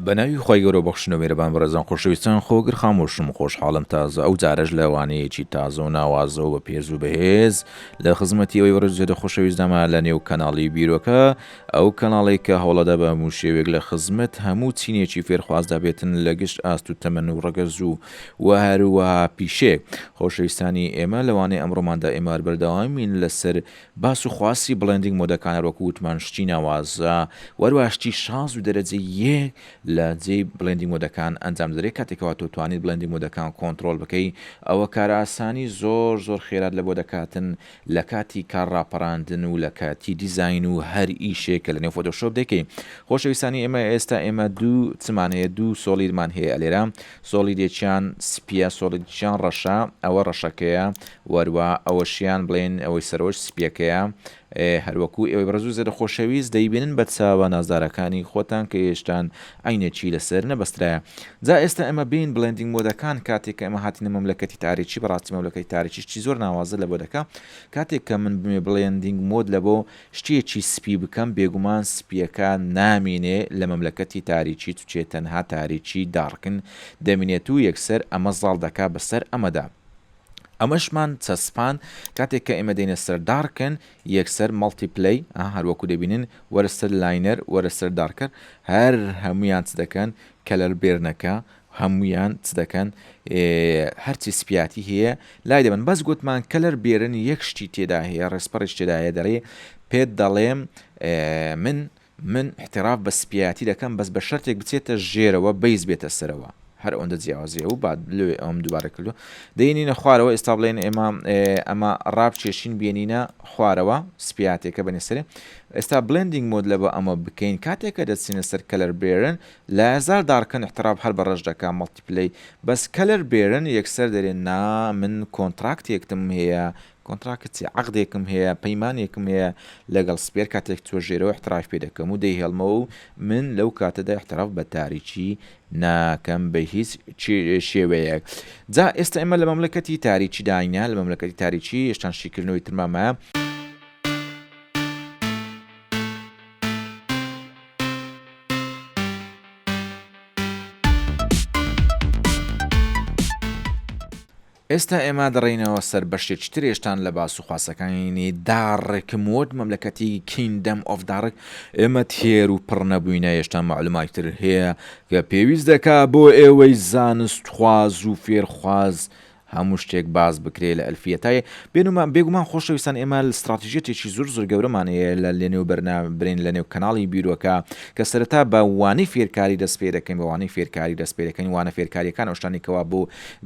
بەناوی خی گەۆ بەخشنە مێرەبان بەڕێزان خۆشەویستان خۆگر خامۆشم خۆشحاڵم تازە ئەو جارەش لەوانەیەکی تازە و ناوازەوە بە پێز و بەهێز لە خزمەتی ئەوی وەرزێدە خۆشەویستداما لە نێو کەناڵی بیرۆکە ئەو کەناڵەی کە هەوڵەدا بە هەموو شێوەیەک لە خزمەت هەموو چینێکی فێرخوازدا بێتن لە گشت ئاست و تەمەن و ڕەگەز و وە هەروەها پیشەیەک. خۆشەویستانی ئێمە لەوانەیە ئەمڕۆماندا ئێمە هەر بەردەوامین لە سەر باس و خواسی بڵێندینگ مۆدەکان هەر وەکو وتمان شتی ناوازە وە هەروەها شتی شاز و دەرەجە یەک لە جێی بڵێندینگ مۆدەکان ئەنجام دەدرێت کاتێک کەوا تۆ توانیت بڵێندینگ مۆدەکان کۆنتڕۆڵ بکەی ئەوە کارئاسانی زۆر زۆر خێرات لە بۆ دەکاتن لە کاتی کار ڕاپەراندن و لە کاتی دیزاین و هەر ئیشێک کە لەنێو فۆتۆشۆپ دەیکەی خۆشەویستانی ئێمە ئێستا ئێمە دوو چمان هەیە دوو سۆڵیدمان هەیە ئەلێرە سۆڵیدێکیان سپیە سۆڵیدکیان ڕەشە ئەوە ڕەشەکەیە وەروا ئەوەشیان بڵێن ئەوەی سەرەوەش سپیەکەیە هەروەکو ئێوەی بەڕێزو زێدە خۆشەویست دەیبینن بە چاوە نازدارەکانی خۆتان کە هێشتان عەینێکی لەسەر نەبەسترایە جا ئێستا ئێمە بێین بڵێندینگ مۆدەکان کاتێک کە ئێمە هاتینە مەملەکەتی تاریکی بەڕاستی مەملەکەتی تاریکی شتی زۆر ناوازە لەبۆ دەکا کاتێک کە من بمێ بڵێندینگ مۆد لەبۆ شتێکی سپی بکەم بێگومان سپیەکە نامینێ لە مەملەکەتی تاریکی چوچێ تەنها تاریکی داڕکن دەمینێتوو یەکسەر ئەمە زاڵ دەکا بەسەر ئەمەدا. ئەمەشمان چەسپاند کاتێک کە ئێمە دێینە سەر دارکن یەکسەر مەڵتی پلەی ئەها هەروەکو دەبینن وەرە سەر لاینەر وەرە سەر دارکر هەر هەموویان چ دەکەن کەلەر بێرنەکە هەموویان چ دەکەن هەرچی سپیاتی هەیە لای دەبن بەس گوتمان کەلەر بێرن یەک شتی تێدا هەیە ڕێسپەڕیش تێدایە دەڵێ پێت دەڵێم من من احتراف بە سپیایەتی دەکەم بەس بە شەرتێک بچێتە ژێرەوە بەیس بێتە سەرەوە هەر ئەوەندە جیاوازیە و باد لۆێ ئەوم دوبارە کردوە دەینینە خوارەوە ئێستا بڵێن ئێمە ئەمە ڕاپ چێشین بێنینە خوارەوە سپیاتێکە بەێ سەرێ ئێستا بلندینگ مۆد لە بە ئەمە بکەین کاتێکە دەچینە سەر کەلەر بێرن لە هزار داڕکن احتراف هەر بە ڕەش دەکە مەڵتیپلەی بەس کەلەر بێرن یەکسەر دەرێن نا من کۆنتراکتێکتم هەیە کۆنتراکت چیە عەقدێکم هەیە پەیمانێکم هەیە لەگەڵ سپێر کاتێک توێژێرەوە احترافی پێ دەکەم و دەیهێڵمەوە و من لەو کاتەدا احتراف بە تاریکی ناکەم بە هیچ شێوەیەک جا ئێستا ئێمە لە مەملەکەتی تاریکی داینە لە مەملەکەتی تاریکی هێشتان شیکردنەوەی ترمامە ئێستا ئێمە دەڕێینەوە سەر بەشێ چ ترێشتان لە باس و خواسەکانی داڕکم وۆرد مەملەکەتی کیندەم ئۆف داڕک ئێمە تێر و پڕ نەبووینە هێشتا مەعلوماتی تر هەیە کە پێویست دەکا بۆ ئێوەی زانست خواز و فێر خواز هەموو شتێک باس بکرێ لە ئەلفیە تاێ بێنومان بێگومان خۆشەویستان ئێمە ستراتیژێتێکی زۆر زۆر گەورەمان هەیە لە لەنێو بەرنا برین لەنێو کەناڵی بیرۆکە کە سەرەتا بە وانەی فێرکاری دەست پێ دەکەین بە وانەی فێرکاری دەست پێ دەکەین وانە فێرکاریەکان ئەو شتانی کەوا بۆ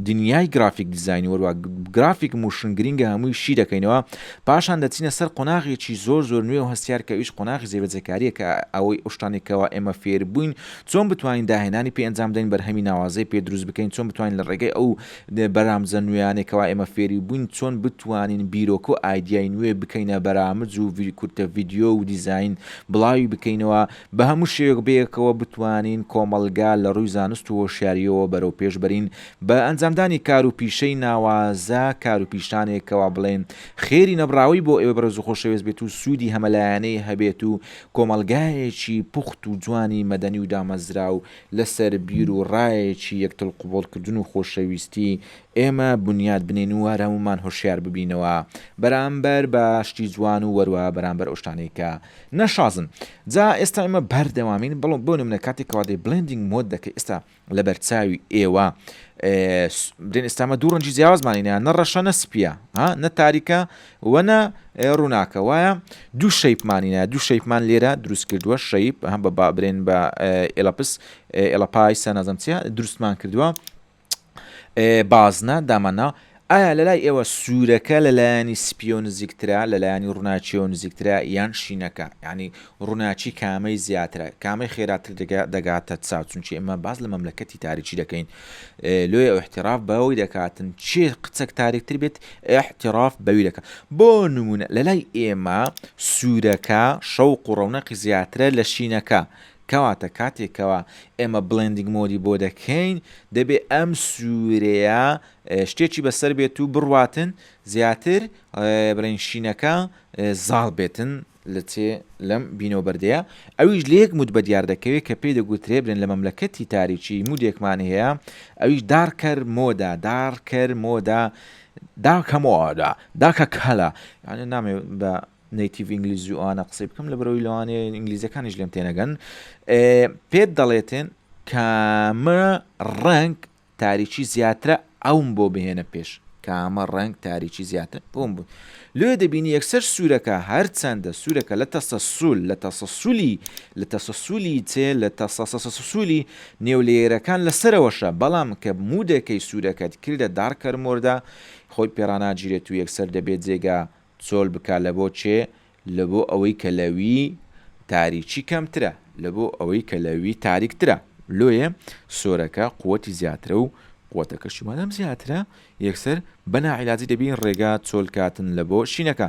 دنیای گرافیک دیزاین وەروا گرافیک موشن گرینگە هەمووی شی دەکەینەوە پاشان دەچینە سەر قۆناغێکی زۆر زۆر نوێ و هەستیار کە ئیش قۆناغی زێبەجێکاریە کە ئەوەی ئەوشتانی کەوا ئێمە فێر بووین چۆن بتوانین داهێنانی پێ ئەنجام دەین بەرهەمی ناوازەی پێ دروست بکەین چۆن بتوانین لە ڕێگەی ئەو بەرامجە نوێیانەی کەوا ئێمە فێری بووین چۆن بتوانین بیرۆک و ئایدیای نوێ بکەینە بەرامج و کورتە ڤیدیۆ و دیزاین بڵاوی بکەینەوە بە هەموو شێوەیەک بەیەکەوە بتوانین کۆمەڵگا لە ڕووی زانست و هۆشیارییەوە بەرەو پێش بەرین بە ئەنجامدانی کار و پیشەی ناوازە، کار و پیشانێک کەوا بڵێین خێری نەبڕاوەی بۆ ئێوە بەرز و خۆشەوێست بێت و سوودی هەمەلایەنەی هەبێت و کۆمەڵگایەکی پوخت و جوانی مەدەنی و دامەزراو لە سەر بیر و ڕایەکی یەکتڵ قبوڵ کردن و خۆشەویستی ئێمە بنیات بنێین و هەر هەموومان هۆشیار ببینەوە بەرامبەر بە شتی جوان و وەروا بەرامبەر ئەو شتانەی کە نە شازن جا ئێستا ئێمە بەردەوامین بەڵام بۆ نمونە کاتێک کەوا دەی بلندینگ مۆد دەکەی ئێستا لە بەرچاوی ئێوە برێن ئێستامە دوو ڕەنجی جیاوازمانینە نە ڕەشە نە سپیە ها نە تاریکە وەنە ڕووناکە وایە دوو شەیپمانینە دوو شەیپمان لێرە دروست کردووە شەیب هەم بە بابرێن بە ئێلەپس ئێلە پایسە نازم چیە دروستمان کردووە بازنە، دامەنا، ئایا لەلای ئێوە سوورەکە لە لایەنی سپییەوە نزیکترە لە لایەنی ڕووناکییەوە نزیکترە یان شینەکە؟ یانی ڕووناکی کامەی زیاترە؟ کامەی خێراتر دەگاتە چاو؟ چونکی ئێمە باس لە مەملەکەتی تاریکی دەکەین لۆیە ئۆحتیراف بەوەی دەکاتن چێ قچەک تاریکتر بێت ئەحتیراف بەوی دەکە بۆ نمونە لەلای ئێمە سوورەکە شەوق و ڕەونەقی زیاترە لە شینەکە کەواتە کاتێک کەوا ئێمە بڵێندینگ مۆدی بۆ دەکەین دەبێ ئەم سوورەیە شتێکی بەسەر بێت و بڕواتن زیاتر بڵێن شینەکە زاڵ بێتن لە چێ لەم بینەوە بەردەیە ئەویش لە یەک مود بە دیار دەکەوێت کە پێی دەگوترێ برێن لە مەملەکەتی تاریکی مودێکمان هەیە ئەویش دارکەر مۆدا دارکەر مۆدا داکە مۆدا داکە کەلە یعنی نامێ بە نەیتیڤ ئینگلیزوانە قسەی بکەم لە بەرەوەی لەوانێ ئینگلیزەکانیش لێم تێنەگەن پێت دەڵێتێن کامە ڕنگ تاریکی زیاترە ئەوم بۆ بهێنە پێش کامە ڕنگ تاریکی زیاتر بۆم بوو لێ دەبینی یەکسەر سوورەکە هەر چەندە سوورەکە لە تەسە سول لە تەسە سولی لە تەسە سولی چێ لە تەسەسەسەسولی نێو لێرەکان لەسەرەوەشە بەڵام کە مودەکەی سوورەکەت کردە دارکەرمۆردا خۆی پێراناگیرێت و یەکسەر دەبێت جێگا چۆل بکا لەبۆ چێ لەبۆ ئەوەی کە لە وی تاریکی کەمترە لەبۆ ئەوەی کە لە وی تاریک ترە لۆیێ سۆرەکە قوەتی زیاترە و قوەتەکەشی مادام زیاترە یەکسەر بە ناعیلاجی دەبی ڕێگا چۆل کاتن لەبۆ شینەکە.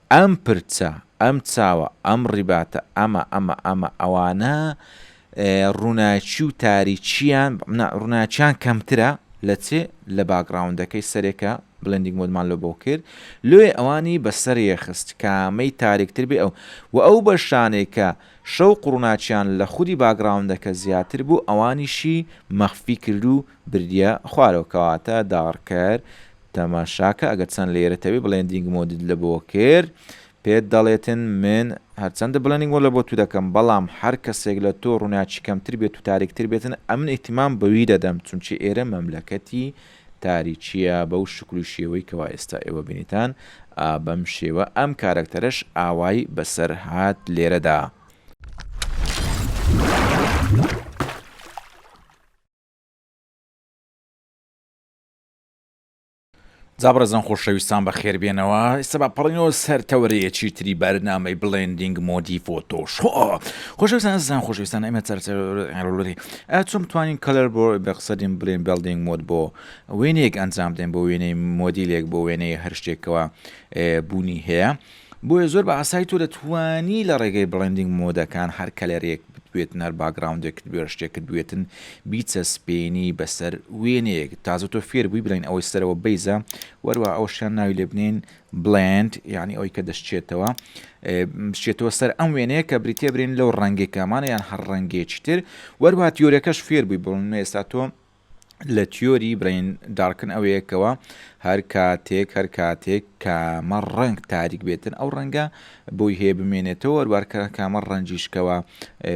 ئەم پرچە، ئەم چاوە، ئەم ڕیباتە، ئەمە، ئەمە، ئەمە، ئەوانە ڕووناکی و تاریکییان، نا، ڕووناکییان کەمترە لە چ؟ لە باکگراوندەکەی سەرێ کە بلێندینگ مۆدمان لۆ بۆ کرد، لۆیێ ئەوانی بە سەرێ خست کامەی تاریکتر بێ ئەو. وە ئەو بەشانەی کە شەوق و ڕووناکییان لە خودی باکگراوندەکە زیاتر بوو ئەوانیشی مەخفی کرد و بردییە خوارەوە کەواتە داڕکەر تەماشاکە ئەگەر چەند لێیەرت هەبێت بڵێندینگ مۆدت لە بۆ کرد پێت دەڵێتن من هەرچەندە بڵێندینگ مۆد لە بۆ تو دەکەم بەڵام هەر کەسێک لە تۆ ڕوناکی کەمتر بێت و تاریکتر بێتن ئەمن ئیهتیمام بەوی دەدەم چونکی ئێرە مەملەکەتی تاریکیە بەو شکل و شێوەی کەوا ئێستا ئێوە بینیتان ئا بەم شێوە ئەم کارەکتەرەش ئاوای بەسەر هات لێرەدا. جا بەڕێزان خۆشەویستان بەخێربێنەوە ئێستا با پەڕینەوە سەر تەوەرەیەکی تری بەرنامەی بڵێندینگ مۆدی فۆتۆش خۆشەویستان زان خۆشویستان ئەمە چەرچەرۆری ئەچم توانین کەلەر بۆ بەقسەدیم بڵێن بەڵدینگ مۆد بۆ وێنێک ئەنجام دێن بۆ وێنەی مۆدیلێک بۆ وێنەی هەر شتێکەوە بوونی هەیە بۆیە زۆر بە ئاسایی تۆ دەتوانی لە ڕێگەی بڵێندینگ مۆدەکان هەر کەلەرێک بتوێتن هەر باکگراوندێکت بوێ شتێکت بوێتن بیچەسپێنی بەسەر وێنەیەک تازە تۆ فێر بووی بڵێن ئەوەی سەرەوە بەیزە وەروە ئەو شتیان ناوی لێ بنین بڵند یعنی ئەوی کە دەشتێتەوە بچێتەوە سەر ئەم وێنەیە کە بریتێ برین لەو ڕەنگێکامانە یان هەر ڕەنگێکی تر وەروات یۆرەکەش فێر بووی بڵن ئێستا تۆ لە تیۆری برەین دارکن ئەوەیە کەوا هەر کاتێک هەر کاتێک کامە ڕەنگ تاریک بێتن ئەو ڕەنگە بۆی هەیە بمێنێتەوە وەروارکە کامە ڕەنجیشکەوە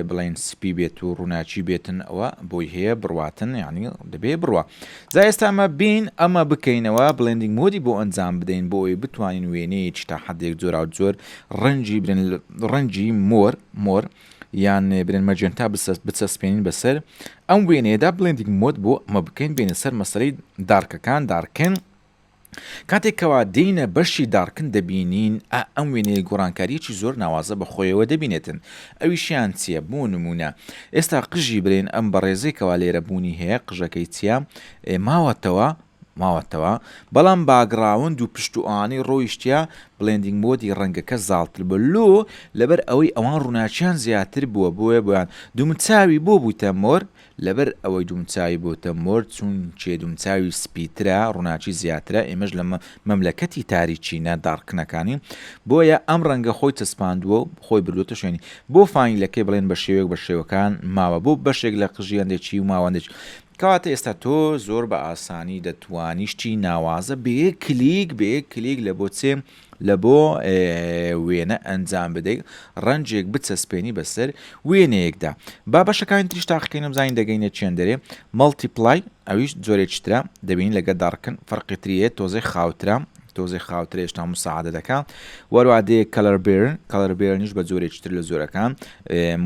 بڵێن سپی بێت و ڕووناچی بێتن ئەوە بۆی هەیە بڕواتن یعنی دەبێ بڕە جا ئێستامە بین ئەمە بکەینەوە بڵێندنگ مۆدی بۆ ئەنجام بدەین بۆ ئەوی بتوانین وێنەیەکی تا حدێک جۆرا و جۆر ڕەنجی برن ڕەنجی مۆر مۆر یان برێن مەجێنتا بچەسپێنین بەسەر ئەم وێنەیەدا بڵێندیک مۆد بۆ ئەمە بکەین بێنە سەر مەسەری دارکەکان دارکن کاتێکەوە دینە بەشی دارکن دەبینین ئەم وێنەیە گۆڕانکاریی زۆر ناوازە بە خۆیەوە دەبینێتن ئەویشیان چییە بۆ نمونە ئێستا قژی برێن ئەم بەڕێزێکەوە لێرە بوونی هەیە قژەکەی چییە ماوەتەوە ماوەتەوە بەڵام باگڕاوند و پشت و ئانی ڕۆیشتیە بڵێندینگ مۆدی ڕەنگەکە زاڵتر بوە لۆ لەبەر ئەوەی ئەوان ڕوناکیان زیاتر بوە بۆیە بۆیان دومچاوی بۆ بوتە مۆر لەبەر ئەوەی دومچاوی بۆتە مۆر چونکێ دومچاوی سپیترە ڕوناکی زیاترە ئێمەش لە مەملەکەتی تاریکینە داڕکنەکانین بۆیە ئەم ڕەنگە خۆی چەسپاندوە و خۆی بردۆتە شوێنی بۆ فانیلەکەی بڵێن بە شێوەیەک بە شێوەکان ماوە بۆ بەشێک لە قژی هەندێکی و ماوە هەندێکی کەواتە ئێستا تۆ زۆر بە ئاسانی دەتوانی شتی ناوازە بە یەک کلیک بە یەک کلیک لە بۆ چێ لە بۆ وێنە ئەنجام بدەیت ڕەنجێک بچەسپێنی بەسەر وێنەیەکدا با بەشەکانی تریش تاقیکەینم زانین دەگەینە چێن دەرێ مەڵتیپلای ئەویش زۆرێکترا دەبین لەگە داڕکن فەرقی تریە تۆزەی خاوترام تۆزی خاوترە هێشتا مساعدە دەکەم وەروادەیە کەلەر بێرن کەلەر بێرنیش بە جۆرێکتر لە زۆرەکان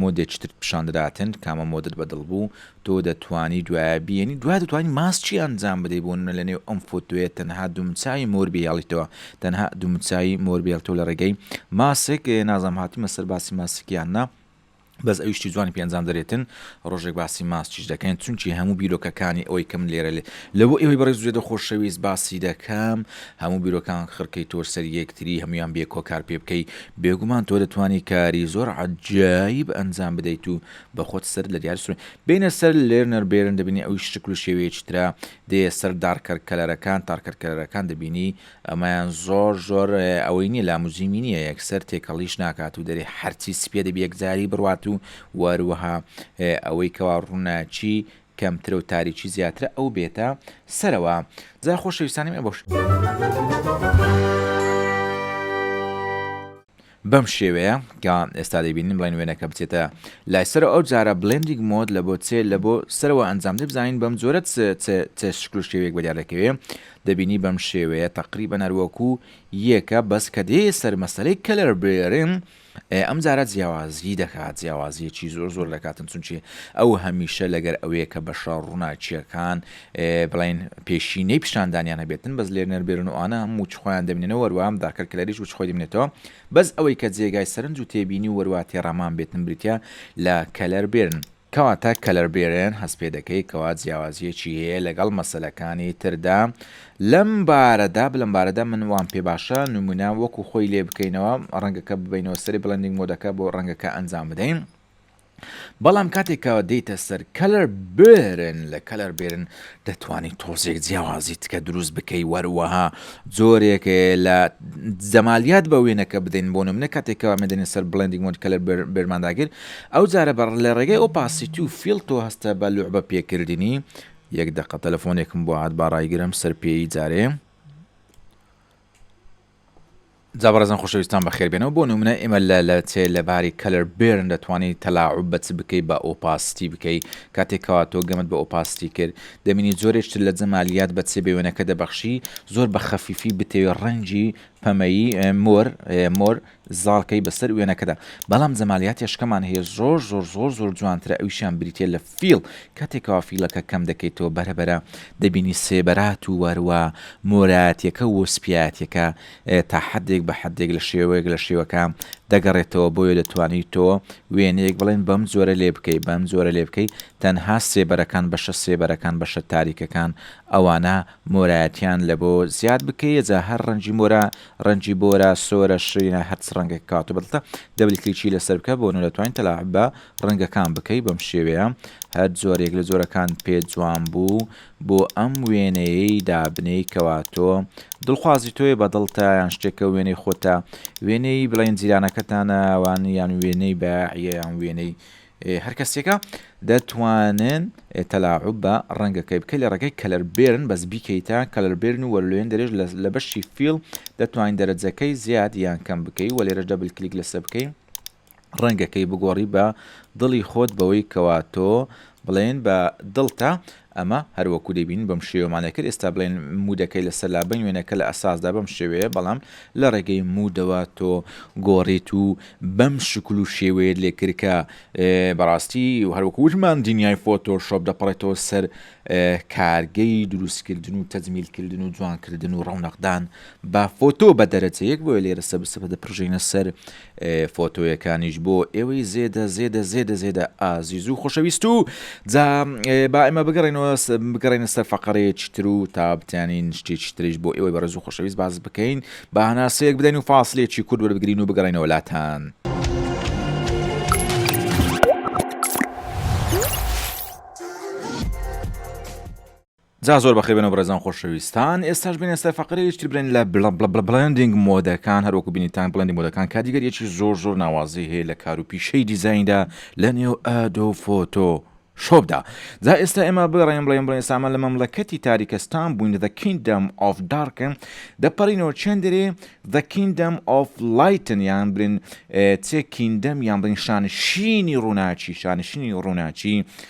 مۆدێکتر پیشان دەداتن کامە مۆدت بەدڵ بوو تۆ دەتوانی دوایە بیێنی دوای دەتوانی ماسچی ئەنجام بدەی بۆ نمە لە نێو ئەم فۆتۆیە تەنها دومچوی مۆر بهێڵیتەوە تەنها دومچوی مۆر بێڵ تۆ لە ڕێگەی ماسک نازام هاتیمە سەر باسی ماسکیان نا بەس ئەویشتی جوانی پێنجام دەرێتن ڕۆژێک باسی ماسچیش دەکەین چونکی هەموو بیرۆکەکانی ئەوەی کەم لێرە لێ لەوە ئێوەی بەڕێز زێدە خۆشەویست باسی دەکەم هەموو بیرۆکان خڕکەی تۆ سەر یەکتری هەمویان بێ کۆکار پێ بکەی بێگومان تۆ دەتوانی کاری زۆر عجایی بە ئەنجام بدەیت و بە خۆت سەرت لە دیار سورێن. بێنە سەر لێرنەر بێرن دەبینی ئەویش شکل و شێوەیەکی ترە دێیە سەر دارکەر کەلەرەکان تارکەر کەلەرەکان دەبینی ئەمەیان زۆر زۆر ئەوەی نیە لاموجیمی نیە یەکسەر تێکەڵیش ناکات و دەرێ هەرچی سپیە دەبی یەکجاری بڕوات و وەروەها ئەوەی کەوا ڕوناکی کەمترەو تاریکی زیاترە ئەو بێتە سەرەوە جا خۆشەویستانی من بەم شێوەیە کە ئێستا دەبینین بڵێن وێنەکە بچێتە لای سەرەوە ئەو جارە بلندیک مۆد لە بۆ چێ لە بۆ سەرەوە ئەنجام دەبزانین بەم جۆرە شکل و شێوێک بەدیار دەکەوێ دەبینی بەم شێوەیە تقریبا نەروەکو یەکە بەس کە دێ سەر مەسلەی کەلەر برێرن ئەم جارە جیاوازی دەکات جیاوازیەکی زۆر زۆر دەکاتن چونچی ئەو هەمیشە لەگەر ئەوەیە کە بەشە ڕووناکیەکان بڵین پێشینەی پیشاندانیان هەبێتن بەس لێر نەربێرن و ئاە هەموو خۆیان دەبنەوە وەروام داکەر کلەریش و خۆی دەبنێتەوە بەس ئەوەی کە جێگای سەرنج و تێبینی وەروا تێڕامان بێتن بریتە لە کەلەر بێرن کەواتە کەلەربێرن هەست پێ دەکەی کەوا جیاوازیەکی هەیە لەگەڵ مەسەلەکانی تردا لەم بارەدا بلەم بارەدا من وام پێ باشە نمونە وەکو خۆی لێ بکەینەوە ڕەنگەکە ببینەوە سەری بڵندنگ مۆدەکە بۆ ڕەنگەکە ئەنجام بدەین بەڵام کاتێکەوە دێتە سەر کەلەر بێرن لە کەلەر بێرن دەتوانی تۆزێک جیاوازی تکە دروست بکەی وەروەها جۆرێک لە جەمالیات بە وێنەکە بدەین بۆ نمونە کاتێک کەوا مەدەنی سەر بڵندی مۆند کە لە بەرمانداگر ئەو جارە بەڕ لە ڕێگەی ئەو پاسیتی و فیل تۆ هەستە بە لوعبە پێکردنی یەک دەقە تەلەفۆنێکم بۆ هاات باڕایگرم سەر پێی جارێ جا بەڕێزان خۆشەویستان بەخێربێنەوە بۆ نمونە ئێمە لە لە چێ لە باری کەلەر بێرن دەتوانانی تەلاعوب بە چ بکەی بە ئۆپاستی بکەی کاتێک کەوا تۆ گەمت بە ئۆپاستی کرد دەبینی جۆرێک تر لە جەمالیات بە چێ بە وێنەکە دەبەخشی زۆر بە خەفیفی بتەوێ ڕەنگی پەمەیی مۆر مۆر زاڵکەی بەسەر وێنەکەدا بەڵام جەمالیاتێ شکەمان هەیە زۆر زۆر زۆر زۆر جوانترە ئەویشیان بریتە لە فیڵ کاتێکەوە فیڵەکە کەم دەکەیتەوە بەرەبەرە دەبینی سێبەرات و وەروە مۆرایەتیەکە و سپیایەتیەکە تا حدێک بە حدێک لە شێوەیەک لە شێوەکە دەگەڕێتەوە بۆیە دەتوانیت تۆ وێنەیەک بڵێن بەم جۆرە لێ بکەی بەم جۆرە لێ بکەی تەنها سێبەرەکان بەشە سێبەرەکان بەشە تاریکەکان ئەوانە مۆرایەتیان لە بۆ زیاد بکەیە جا هەر ڕەنجی مۆرە ڕەنجی بۆرە سۆرە شرینە هەر چ ڕەنگێک کات و بەدڵتە دەبل کلیکی لەسەر بکە بۆ نۆ دەتوانی تەلاعب بە ڕەنگەکان بکەی بەم شێوەیە هەر جۆرێک لە جۆرەکان پێت جوان بوو بۆ ئەم وێنەیەی دابنێی کەوا تۆ دڵخوازی تۆیە بە دڵتە یان شتێکە وێنەی خۆتە وێنەی بڵێن جیرانەکەتانە وان یان وێنەی بایعە یان وێنەی هەرکەسێکە دەتوانن تەلاعوب بە ڕەنگەکەی بکە لە ڕێگەی کەلەر بێرن بەس بیکەیتە کەلەر بێرن و وەرلوێن دەرێژ لە بەشی فیل دەتوانین دەرەجەکەی زیاد یان کەم بکەی وە لێرەش دەبل کلیک لەسە بکەین ڕەنگەکەی بگۆڕی بە دڵی خۆت بەوەی کەوا تۆ بڵێن بە دڵتە ئەمە هەر وەکو دەیبینن بەم شێوەمانە گەر ئێستا بڵێن مودەکەی لەسەر لابەین وێنەکە لە ئەساسدا بەم شێوەیە بەڵام لە ڕێگەی مودەوە تۆ گۆڕیت و بەم شکل و شێوەیەت لێ کرد کە بەڕاستی هەر وەکو وتمان دنیای فۆتۆ شۆپ دەپەڕێتەوە سەر کارگەی دروستکردن و تەجمیلکردن و جوانکردن و ڕەونەقدان با فۆتۆ بە دەرەجە یەک بۆیە لێرە سەبسپدە پرژینە سەر فۆتۆیەکانیش بۆ ئێوەی زێدە زێدە زێدە زێدە ئازیز و خۆشەویست و جا با ئێمە بگەڕێنەوە بگەڕێنە سەر فەقەرەیەکی تر و تا بتیانین شتێکی تریش بۆ ئێوەی بەڕێز و خۆشەویست باز بکەین با هەناسەیەک بدەین و فاصلێکی کورد وەربگرین و بگەڕێنەوە لاتان. جا زۆر بەخێر بێنەوە بەڕێزان خۆشەویستان ئێستاش بێنە سەر فەقرەیش تر برێن لە بڵە بڵە بڵە بڵێندینگ مۆدەکان هەر وەکو بینیتان بڵێندی مۆدەکان کادیگەریەکی زۆر زۆر ناوازەی هەیە لە کار و پیشەی دیزایندا لە نێو ئەدۆ فۆتۆ شۆبدا جا ئێستا ئێمە بگەڕێن بڵێن بڵێن ئێسامە لە مەملەکەتی تاریکەستان بووین دە کیندەم ئۆف دارکن دەپەڕینەوە چێندرێ دە کیندەم ئۆف لایتن یان برین چێ کیندەم یان بڵین شانشینی ڕووناچی شانشینی ڕووناچی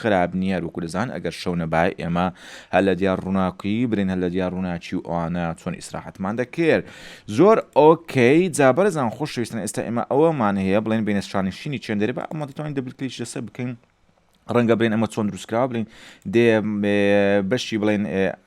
خراپ نیە هەروەکو دەزان ئەگەر شەو نەبای ئێمە هەر لە دیار ڕووناکی برین هەر لە دیار ڕووناکی و ئەوانە چۆن ئیسراحەتمان دەکرد زۆر ئۆکەی جابەرزان خۆشویستن ئێستا ئێمە ئەوەمان هەیە بڵێن بینە شانشینی چێندەری بە ئەمە دەتوانین دەبلکلیش لەسەر بکەین ڕەنگە برێن ئەمە چۆن دروستکرا بڵین دێ بەشی بڵێن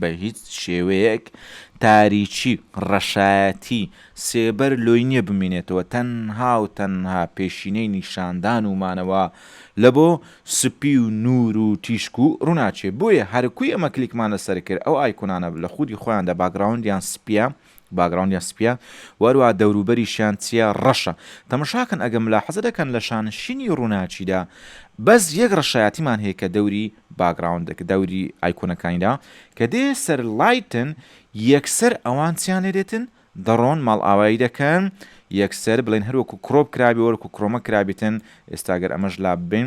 بە هیچ شێوەیەک تاریکی، ڕەشایەتی، سێبەر لۆی نیە بمینێتەوە، تەنها و تەنها پێشینەی نیشاندان و مانەوە لە بۆ سپی و نور و تیشک و ڕوناکیە، بۆیە هەرکوی ئەمە کلیکمان لەسەر کرد ئەو ئایکونانە لە خودی خۆیاندا باکگراوندیان سپیە، باگراوندیان سپیە و هەروەها دەوروبەریشیان چیە ڕەشە تەمەشاکەن ئەگەر ملاحەزە دەکەن لە شانشینی ڕوناکیدا بەس یەک ڕەشایەتیمان هەیە کە دەوری باگراوند دەوری ئایکۆنەکانیدا کە دێ سەر لایتن یەکسەر ئەوان چیان لێ دێتن دەڕۆن ماڵئاوایی دەکەن یەکسەر بڵێن هەروەکو کرۆپ کرابێ وەرکو کرۆمە کرابێتن ئێستاگەر ئەمەش لا ببین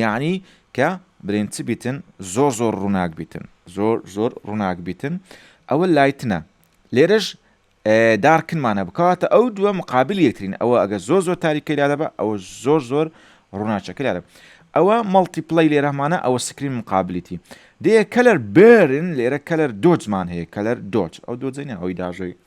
یەعنی کە بلێن چ بیتن زۆر زۆر ڕووناک بیتن زۆر زۆر ڕووناک بیتن ئەوە لایتنە لێرەش دارکنمانە بکاتە ئەو دووە مقابل یەکترین ئەوە ئەگە زۆر زۆر تاریکەی لا دەبە ئەوە زۆر زۆر ڕووناچەکە لا دەبە ئەوە مەڵتیپلەی لێرەمانە ئەوە سکرین مقابلیتی دێ کەلەر بێرن لێرە کەلەر دۆجمان هەیە کەلەر دۆچ ئەو دۆجین ئەوی داژەوی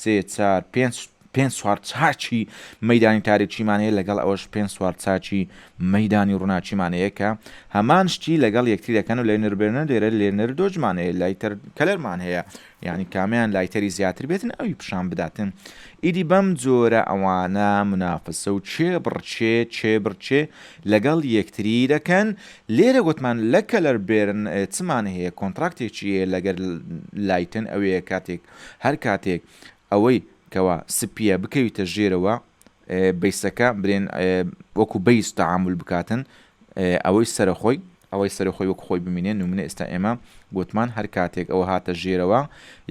سێ چار پێنج پێنج چوار چاکی مەیدانی تاریکیمان هەیە لەگەڵ ئەوەش پێنج چوار چاکی مەیدانی ڕووناکیمان هەیە کە هەمان شتی لەگەڵ یەکتری دەکەن و لێنر بێنەر دێرە لێنر دۆجمان هەیە لایتەر کەلەرمان هەیە یعنی کامیان لایتەری زیاتر بێتن ئەوی پیشان بداتن ئیدی بەم جۆرە ئەوانە منافسە و چێ بڕچێ چێ بڕچێ لەگەڵ یەکتری دەکەن لێرە گوتمان لە کەلەر بێرن چمان هەیە کۆنتراکتێکی هەیە لەگەر لایتن ئەوەیە کاتێک هەر کاتێک ئەوەی کەوا سپیە بکەویتە ژێرەوە بەیسەکە برێن وەکو بەیس تەعامول بکاتن ئەوەی سەرە خۆی ئەوەی سەرە خۆی وەکو خۆی بمینێ نمونە ئێستا ئێمە گوتمان هەر کاتێک ئەوە هاتە ژێرەوە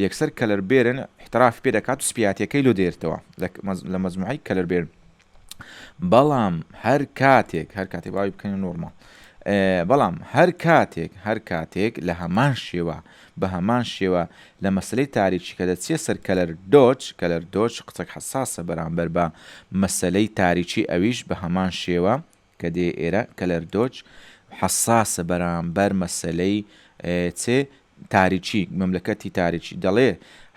یەکسەر کەلەر بێرن احتراف پێ دەکات و سپیاتیەکەی لۆ دێرتەوە لە مەزموعەی کەلەر بێرن بەڵام هەر کاتێک هەر کاتێک باوی بکەنە نۆرماڵ بەڵام هەر کاتێک هەر کاتێک لە هەمان شێوە بە هەمان شێوە لە مەسلەی تاریکی کە دەچیە سەر کەلەر دۆچ کەلەر دۆچ قسەک حساسە بەرامبەر بە مەسلەی تاریکی ئەویش بە هەمان شێوە کە دێ ئێرە کەلەر دۆج حەساسە بەرامبەر مەسەلەی چێ؟ تاریکی، مەملەکەتی تاریکی، دەڵێ،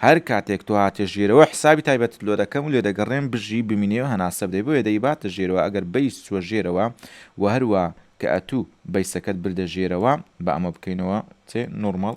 هەر کاتێک تۆ هاتیە ژێرەوە حسابی تایبەتت لۆ دەکەم و لێ دەگەڕێم بژی بمینێ و هەناسە بدەی بۆیە دەیباتە ژێرەوە ئەگەر بەیس چووە ژێرەوە و هەروا کە ئەتوو بەیسەکەت بردە ژێرەوە با ئەمە بکەینەوە چێ؟ نۆرماڵ.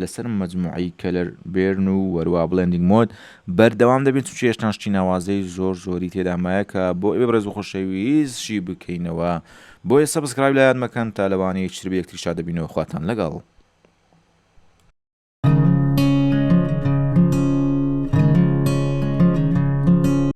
لەسەر مەجموعەی کەلەر بێرن و وەروا بڵێندینگ مۆد بەردەوام دەبین چونکی هێشتان شتی ناوازەی زۆر زۆری تێدا مایە کە بۆ ئێوەی بەڕێز و خۆشەویست شی بکەینەوە بۆیە سەبسکرایب لایان مەکەن تا لەوانەیە چتر بە یەکتری شاد دەبینەوە خواتان لەگەڵ.